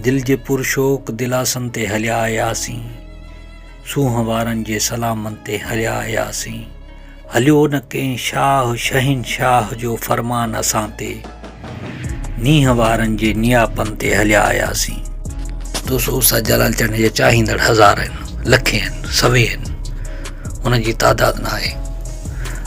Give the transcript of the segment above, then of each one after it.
دل جي پر شوق دلاسن تي هليا آياسين سونهن وارن جي سلامن تي هليا آياسين هليو نه ڪنهن شاهه شهنشاهه جو فرمان اسان تي نينهن وارن جي نياپن تي هليا آياسين دوستو استاد جلال چنڊ جا چاهيندڙ هزار آهن لکين سوين ان جي تعداد نه آهي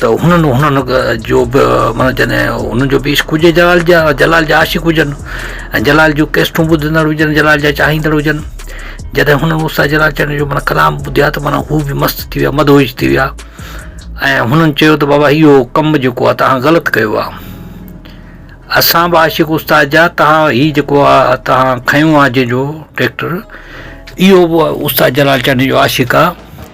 ته هنن هنن جو به معنيٰ جڏهن هنن جو به عشق هجي جلال جا جلال جا عاشق هجن ۽ جلال جون ڪيسٽون ٻڌندڙ هجن جلال جا چاهيندڙ هجن جڏهن هنن استاد جلال چانڊيو جو معنيٰ ڪلام ٻڌيو آهي ته معنيٰ هو به مست ٿي ويا مدهوش ٿي ويا ۽ هنن چيو ته بابا اهو ڪم جيڪو آهي تهان غلط ڪيو آهي اسان به عاشق استاد جا تهان هي جيڪو آهي تهان کنيو آهي جنهن جو ٽريڪٽر اهو به استاد جلال چانڊيو جو عاشق آهي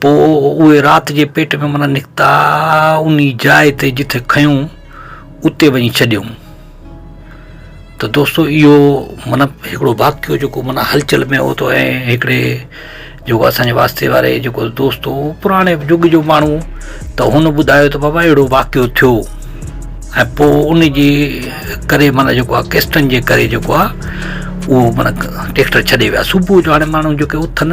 پوء اهي رات جي پيٽ ۾ منا نڪتا، انهي جاء تي جتي کنيون اتي وڃي ڇڏيم. ته دوستو اهو منا هڪڙو واقعو جيڪو منا هلچل ۾ هو ته ۽ هڪڙي جيڪو اسان جي واسطي واري جيڪو دوست هو پراڻي جڳ جو ماڻهو ته هن ٻڌايو ته بابا اهڙو واقعو ٿيو ۽ پوء ان جي ڪري منا جيڪو آهي ڪيسٽن جي ڪري جيڪو آهي اهو منا ٽيڪٽر ڇڏي ويا صبح جو هاڻي ماڻهو جيڪي اٿن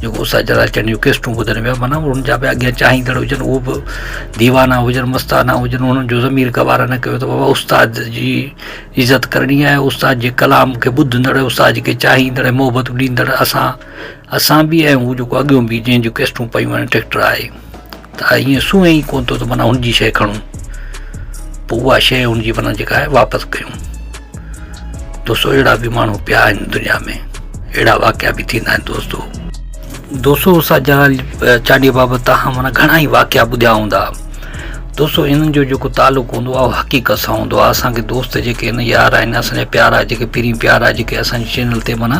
جيڪو اسان جھڙا چئن جون قسطون ٻڌن پيا معنيٰ انهن جا به اڳيان چاهيندڙ هجن اهو به ديوانا هجن مستانا هجن انهن جو ضمير گوار نه ڪيو ته بابا استاد جي عزت ڪرڻي آهي استاد جي ڪلام کي ٻڌندڙ استاد جي کي چاهيندڙ محبت ڏيندڙ اسان اسان به ۽ هو جيڪو اڳيون به جنهن جون قسطون پيون آهن ٽيڪٽر آهي ته ائين سونهن ئي ڪونه ٿو ته معنيٰ هن جي شيء کڻون پوء اها شيء هن جي معنيٰ جيڪا آهي واپس ڪيون دوستو اهڙا به ماڻهو پيا آهن دنيا ۾ اهڙا واقعا به ٿيندا آهن دوستو دوستو اسان جا چانڊيي بابت تاهان مانا گهڻا ئي واقعا ٻڌيا هوندا دوستو انهن جو جيڪو تعلق هوندو آهي اهو حقيقت سان هوندو آهي اسانکي دوست جيڪي آهن يار آهن اسانجا پيارا جيڪي پرين پيارا جيڪي اسانجي چينل تي مانا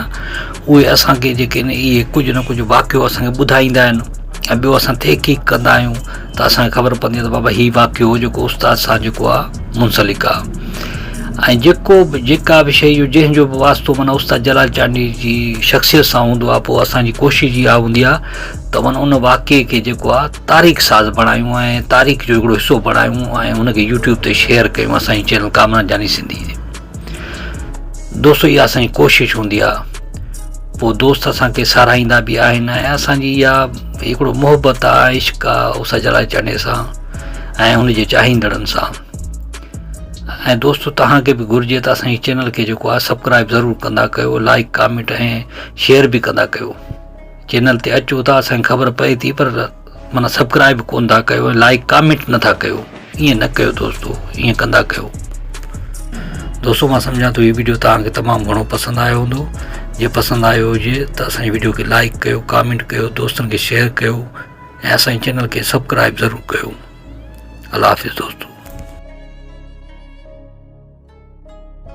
اهي اسانکي جيڪي آهن اهي ڪجهه نه ڪجهه واقعو اسانکي ٻڌائيندا آهن ۽ ٻيو اسان تحقيق ڪندا آهيون ته اسان کي خبر پوندي آهي ته بابا هي واقعو جيڪو استاد سان جيڪو آهي منسلڪ آهي ۽ جيڪو به جيڪا به شيء جو جنهن جو به واسطو معنيٰ استاد جلال چانڊيي جي شخصيت سان هوندو آهي پوء اسان جي ڪوشش اها هوندي آهي ته معنيٰ ان واقعي کي جيڪو آهي تاريخ ساز بڻايون ۽ تاريخ جو هڪڙو حصو بڻايون ۽ ان کي يوٽيوب تي شيئر ڪيون اسان جي چينل ڪامران جاني سنڌي دوستو اها اسان جي ڪوشش هوندي آهي پوء دوست اسان کي ساراهيندا به آهن ۽ اسان جي اها هڪڙو محبت آهي عشق آهي او سجلا چني سان ۽ هن جي چاهيندڙن سان ۽ دوستو تهان کي به گهرجي ته اسان جي چينل کي جيڪو آهي سبسڪرائب ضرور ڪندا ڪيو لائڪ ڪامينٽ ۽ شيئر به ڪندا ڪيو چينل تي اچو ٿا اسان کي خبر پئي ٿي پر معنيٰ سبڪرائب ڪون ٿا ڪيو ۽ لائيڪ ڪامينٽ نٿا ڪيو ائين نه ڪيو دوستو ائين ڪندا ڪيو دوستو مان سمجهان ٿو هي ويڊيو توهان کي تمام گهڻو پسند آيو هوندو جي پسند آيو هجي ته اسان جي ويڊيو کي لائيڪ ڪيو ڪامينٽ ڪيو دوستن کي شيئر ڪيو ۽ اسان جي چينل کي سبڪرائب ضرور ڪيو الله حافظ دوستو